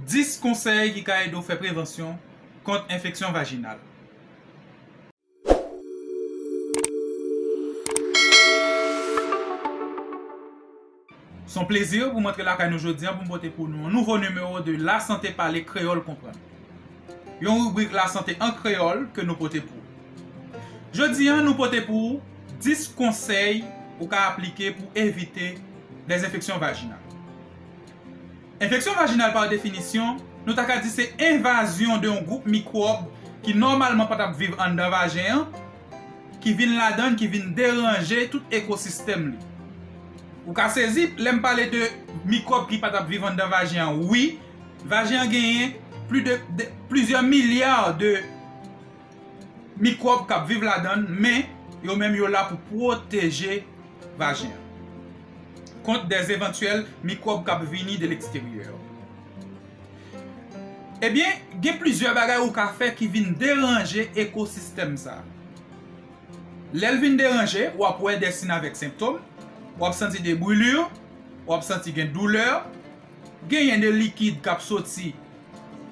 10 konsèy ki ka ede w fè prevansyon kont enfeksyon vajinal. S on plezi pou m antre lakay nou jodi an pou m pote pou nou yon nouvo nimewo de La Sante Pale Kreyòl Konprann. Yon ribrik lasante an kreyòl ke nou pote pou ou. Jodi an nou pote pou ou 10 konsèy ou ka aplike pou evite lèzenfeksyon vajinal. Enfeksyon vajinal pa definisyon, nou ta ka di se envazyon de yon gwoup mikwòb ki nòmalman pa t ap viv anndan vajen an, ki vin ladan l, ki vin deranje tout ekosistèm li. Ou ka sezi lè m pale de mikwòb ki pa t ap viv anndan vajen an. Wi, vajen an genyen plizyè milya de mikwòb k ap viv ladan l men yo menm yo la pou pwoteje vajen an kont de evantyèl mikwòb k ap vini de leksteryè yo. Ebyen, gen plizyè bagay ou ka fè ki vin deranje ekosistèm sa. Lè l vin deranje, w ap wè dè sin avèk senptom, w ap santi de brûlures, w ap santi gen doulè, Genyen de likid k ap soti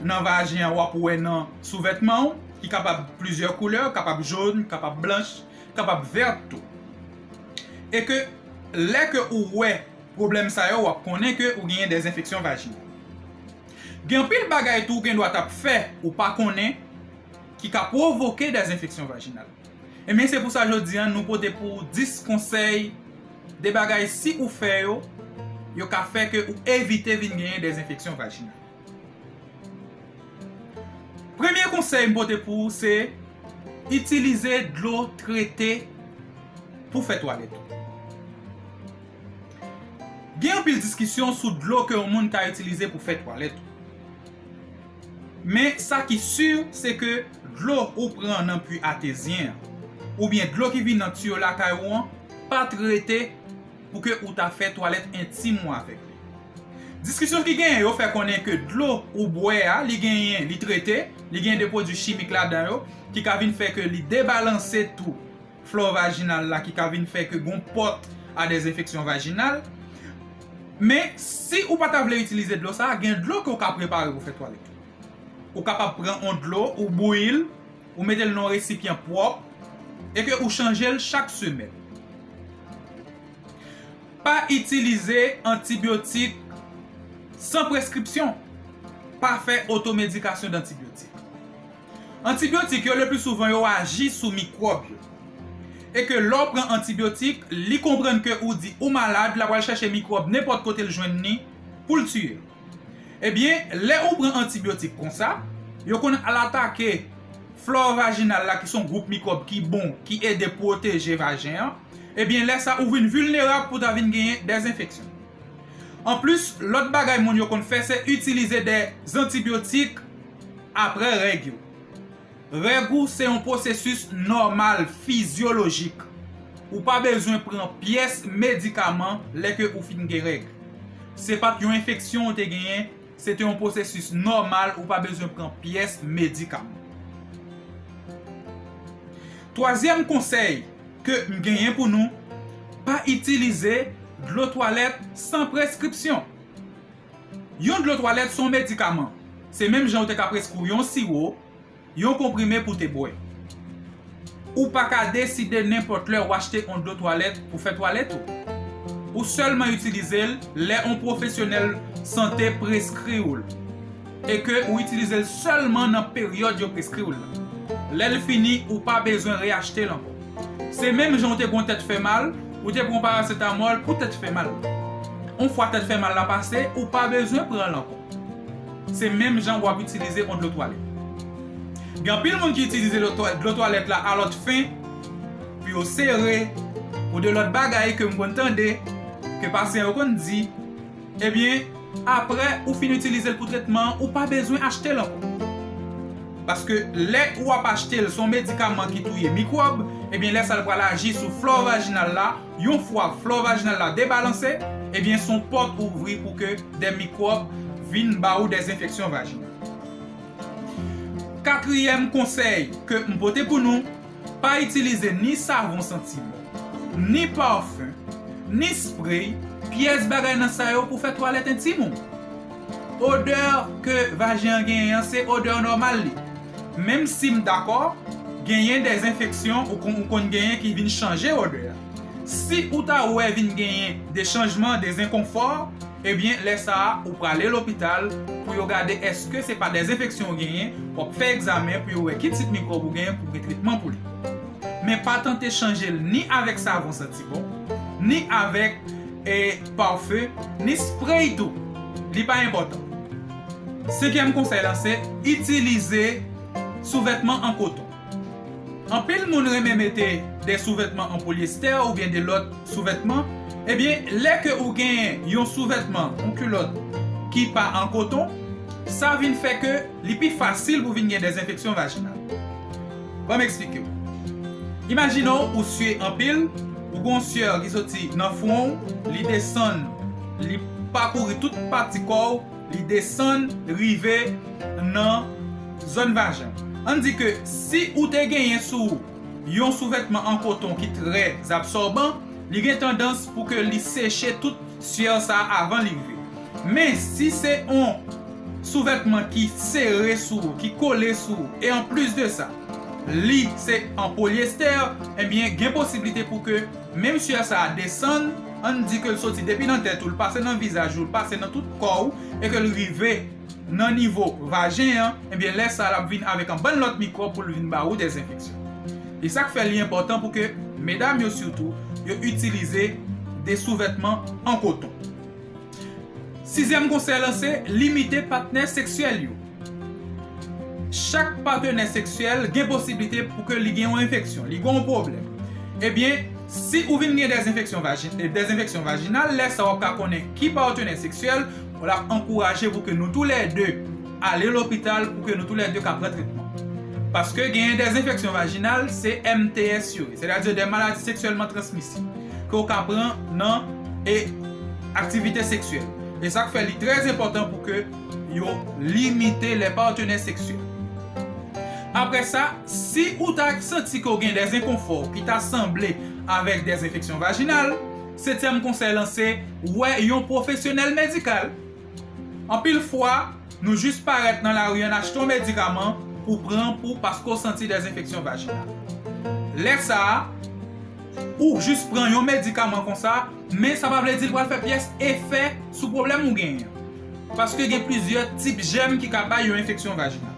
nan vajen an w ap wè nan souvètman ou ki kapab plizyè koulè, kapab jone, kapab blanch, kapab vèt tou. E ke lè ke ou wè pwoblèm sa yo w ap konnen ke ou genyen des enfeksyon vajinal. Gen anpil bagay tou ou gen dwa t ap fè ou pa konnen ki ka pwovoke des enfeksyon vajinal. Ebyen se pou sa jodi an nou pote pou ou 10 konsèy de bagay si ou fè yo, yo ka fè ke ou evite vin genyen des enfeksyon vajinal. Premye konsèy m pote pou ou se itilize dlo trete pou fè twalèt ou. Gen anpil diskisyon sou dlo ke yon moun ka itilize pou fè twalèt ou. Men sa ki sur se ke dlo ou pran nan pui atezyen an ou byen dlo ki vin nan tuyo lakay ou an pa trete pou ke ou ta fè twalèt entim ou avèk li. Diskisyon ki genyen yo fè konnen ke dlo ou bwè a li genyen li trete, li genyen de pwodui chimik ladan yo ki ka vin fè ke li debalanse tou flò vajinal la ki ka vin fè ke gon pòt a des enfeksyon vajinal. Men, si ou pa ta vle itilize dlo sa a, gen dlo ke ou ka prepare pou fè twalèt. Ou kapab pran yon dlo, ou bouyi l, ou mete l nan yon resipyan pwòp, e ke ou chanje l chak semèn. Pa itilize antibyotik san preskripsyon. Pa fè otomedikasyon dantibyotik. Antibyotik yo lepli souvan yo aji sou mikwòb yo. E ke lè w pran antibyotik, li konprann ke ou di ou malad, la pral chèche mikwòb nenpòt kote l jwenn ni pou l tiye l. Ebyen, lè ou pran antibyotik konsa, yo konn al atake flò vajinal la ki son gwoup mikwòb ki bon, ki ede pwoteje vajen an, ebyen lè sa ou vin vilnerab pou ta vin genyen dè enfeksyon. Anplis, lòt bagay moun yo konn fè se itilize dè antibyotik, apre règ yo. Règ ou se yon pwosesis nòmal fizyolojik. Ou pa bezwen pran pyès medikaman lè ke ou fin gen règ. Se pat yon enfeksyon ou te genyen, se te yon pwosesis nòmal ou pa bezwen pran pyès medikaman. Twazyèm konsèy ke m genyen pou nou, pa itilize dlo twalèt san preskripsyon. Yon dlo twalèt se yon medikaman. Se menm jan yo te ka preskri w yon siwo, yon konprime pou w te bwè. Ou pa ka deside nenpòt lè ou achte yon dlo twalèt pou fè twalèt ou. Ou sèlman itilize l lè yon pwofesyonèl sante preskri w l e ke ou itilize l sèlman nan peryòd yo preskri w la. Lè l fini, ou pa bezwen reyachte l ankò. Se menm jan ou te gon tèt fè mal, ou te pran paracetamol pou tèt fè mal. On fwa tèt fè mal la pase, ou pa bezwen pran l ankò. Se menm jan wap itilize on dlo twalèt. Gen anpil moun ki itilize dlo twalèt la a lòt fen, pou yo sere, ou de lòt bagay ke m konn tande, ke pasyan yo konn di. Ebyen, aprè ou fin itilize l pou tretman an, ou pa bezwen achte l ankò. Paske lè ou ap achte l se yon medikaman ki touye mikwòb, ebyen lè sa l pral aji sou flò vajinal la, yon fwa flò vajinal la debalanse, ebyen se yon pòt ou ouvri pou ke dè mikwòb vin ba ou dè enfeksyon vajinal. Katriyèm konsèy ke m pote pou nou. Pa itilize ni savon santi bon, ni parfum, ni spray, pyès bagay nan sa yo pou fè twalèt entim ou. Odè ke vajen an genyen an se odè nòmal li. Menm si m dakò genyen de enfeksyon ou konn genyen ki vin chanje odè a. Si ou ta wè vin genyen de chanjman, de zenkonfò, Ebyen lè sa a ou prale lopital pou yo gade eske se pa dezenfeksyon ou genyen, w ap fè egzamen pou yo wè ki tip mikwòb ou genyen pou gen tretman pou li. Men pa tante chanje l ni avèk savon santi bon, ni avèk parfum, ni spray tou, li pa enpòtan. Senkyèm konsèy lan se itilize souvètman an koton. Anpil moun renmen mete de souvètman an polyestè oubyen de lòt souvètman, ebyen lè ke ou genyen yon souvètman, yon kilòt ki pa an koton, sa vin fè ke li pi fasil pou vin gen de enfeksyon vajinal. Ban m eksplike w. Imajine w ou sye anpil, ou gen yon syè ki soti nan fwon w, li desann, li pakouri tout pati kò w, Li desann rive nan zòn vajen. Ann di ke si ou te genyen sou ou yon souvètman an koton ki trè zabsòban, li gen tandans pou ke li seche tout syèr sa a avan li rive. Men, si se yon souvètman ki sere sou ou, ki kole sou ou, e an plis de sa, li se an polyester, enbyen gen posiblite pou ke Menm syè sa a desann, ann di ke l soti depi nan tèt ou, l pase nan vizaj ou, l pase nan tout kò ou, e ke l rive nan nivo vajen an, ebyen lè sa a l ap vin avèk anbann lòt mikwòb pou l vin ba ou dè enfeksyon. E sa k fè li enpòtan pou ke medam yo sitou, yo itilize de souvètman an koton. Sizyèm konsèy lan se limite patnè seksyèl yo. Chak patenè seksyèl gen posiblite pou ke li gen yon enfeksyon, li gen yon pwoblèm. Ebyen, si ou vin gen dezenfeksyon vajinal, dezenfeksyon vajinal, lè sa w ap ka konnen ki patenè seksyèl w ap ankouraje pou ke nou tou lè 2 Ale lopital pou ke nou tou lè 2 ka pran tretman. Paske genyen dè enfeksyon vajinal se MTS yo ye, sètadi dè maladi seksyèlman transmisib ke ou ka pran nan e aktivite seksyèl. E sak fè li trè enpòtan pou ke yo limite lè patenè seksyèl. Aprè sa, si ou ta santi ke ou gen dè enkonfò ki ta sanble avèk dè enfeksyon vajinal, setyèm konsèy lan se wè yon pwofesyonèl medikal. Anpil fwa, nou jis parèt nan lari an achte yon medikaman ou pran pou paske w santi dè enfeksyon vajinal. Lè sa a, ou jis pran yon medikaman konsa, men sa pa vle di l pral fè pyès efè sou pwoblèm ou genyen an. Paske gen plizyè tip jèm ki ka bay yon enfeksyon vajinal.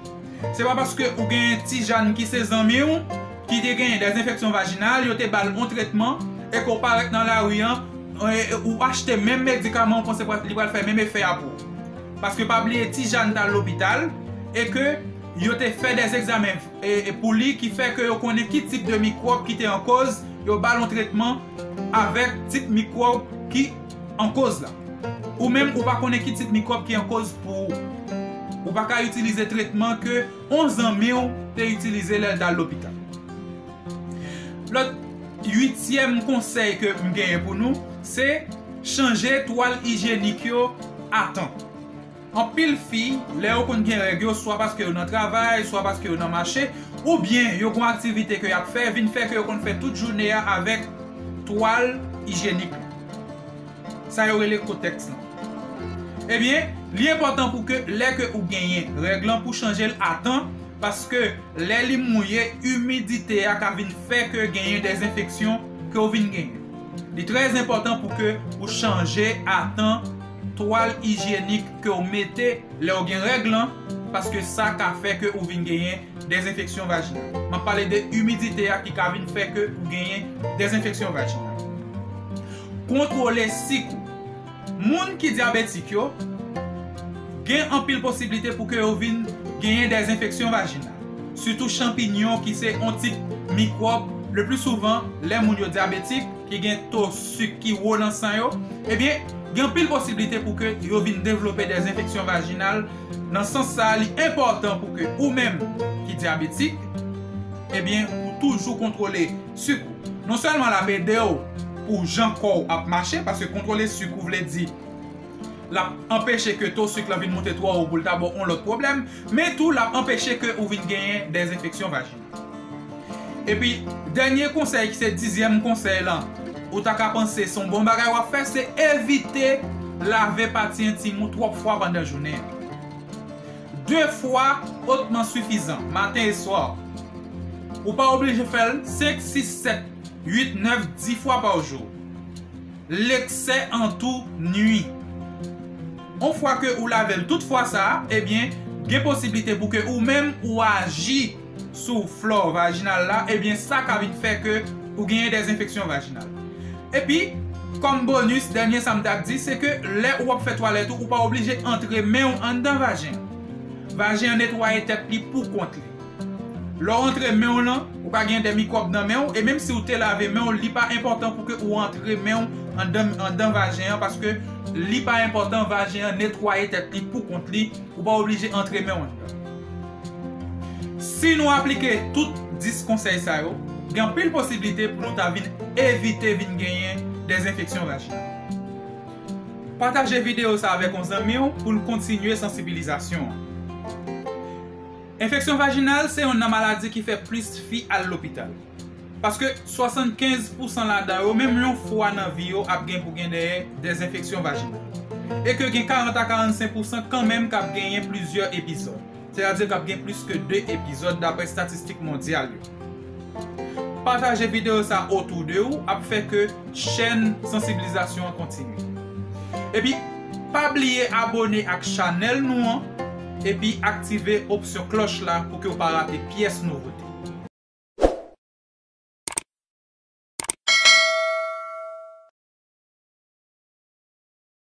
Se pa paske ou gen Tijann ki se zanmi w, ki te genyen dè enfeksyon vajinal, yo te ba l yon tretman, e ke w parèt nan lari an, ou achte menm medikaman ou panse li pral fè menm efè a pou ou. Paske pa bliye ti Jàn t al lopital, e ke yo te fè dè egzamen pou li ki fè ke yo konnen ki tip de mikwòb ki te ankòz, yo ba l yon tretman avèk tip mikwòb ki ankòz la. Ou menm ou pa konnen ki tip mikwòb ki ankòz pou ou. Ou pa ka itilize tretman ke. On zanmi w te itilize lè l t al lopital. Lòt uityèm konsèy ke m genyen pou nou se chanje twal ijyenik yo a tan. Anpil fi lè yo konn gen règ yo swa paske yo nan travay, swa paske yo nan mache, oubyen yo gon aktivite ke y ap fè vin fè ke yo konn fè tout joune a avèk twal ijyenik lan. Sa yo rele kotèks lan. Ebyen, li enpòtan pou ke lè ke ou genyen règ lan pou chanje l a tan, paske lè li mouye, imidite a ka vin fè ke genyen dè enfeksyon ke ou vin genyen. Li trè enpòtan pou ke ou chanje a tan twal ijyenik ke ou mete lè ou gen règ lan, paske sa ka fè ke ou vin genyen Dezenfeksyon vajinal. M ap pale de imidite a ki ka vin fè ke ou genyen dezenfeksyon vajinal. Kontwole sik ou. Moun ki dyabetik yo gen anpil posiblite pou ke yo vin genyen dezenfeksyon vajinal. Sitou chanpinyon ki se yon tip mikwòb le pli souvan lè moun yo dyabetik ki gen to sik ki wo nan san yo, ebyen gen anpil posiblite pou ke yo vin devlope dezenfeksyon vajinal. Nan sans sa a li enpòtan pou ke ou menm ki dyabetik ebyen ou toujou kontwole suk ou. Non sèlman lap edew pou jan kòw ap mache paske kontwole suk ou vle di lap anpeche ke to suk lan vin moute twò wo poul ta baw on lòt pwoblèm men tou lap anpeche ke ou vin genyen dèzenfeksyon vajinal. Epi dènye konsèy ki se dizyèm konsèy lan ou ta ka panse son bon bagay wap fè se evite lave pati entim ou twòp fwa pandan jounen an. De fwa otman sifizan, maten e swa. Ou pa oblije fèl 5, 6, 7, 8, 9, 10 fwa pa jou. Leksè an tou nwi. On fwa ke ou lave l tout fwa sa, ebyen gen posiblite pou ke ou menm ou aji sou flò vajinal la, ebyen sa ka vin fè ke ou genyen des enfeksyon vajinal. Epi, kòm bonus, dènye sa m ta di, se ke lè ou ap fè twalèt ou, ou pa oblije antre men ou anndan vajen an. Vajen an netwaye tèt li pou kont li. Lè w antre men w lan, ou ka gen de mikwòb nan men w, e menm si w te lave men w, li pa enpòtan pou ke ou antre men w andan andan vajen an paske li pa enpòtan vajen an netwaye tèt li pou kont li, ou pa oblije antre men w anndan. Si nou aplike tout 10 konsèy sa yo, gen anpil posiblite pou nou ta vin evite vin genyen de zenfeksyon vajinal. Pataje videyo sa avèk yon zanmi w pou l kontinye sansibilizasyon an. Enfeksyon vajinal se yonn nan maladi ki fè plis fi al lopital. Paske 75 pousan ladan yo menm yon fwa nan vi yo ap gen pou gen dèyè des enfeksyon vajinal. E ke gen 40 a 45 pousan kanmenm kap genyen plizyè epizòd. Sètadi kap gen plis ke 2 epizòd dapre statistik mondyal yo. Pataje videyo sa autour de ou ap fè ke chèn sansibilizasyon an kontinye. Epi pa bliye abone ak chanèl nou an epi aktive opsyon klòch la pou ke ou pa rate pyès nouvote.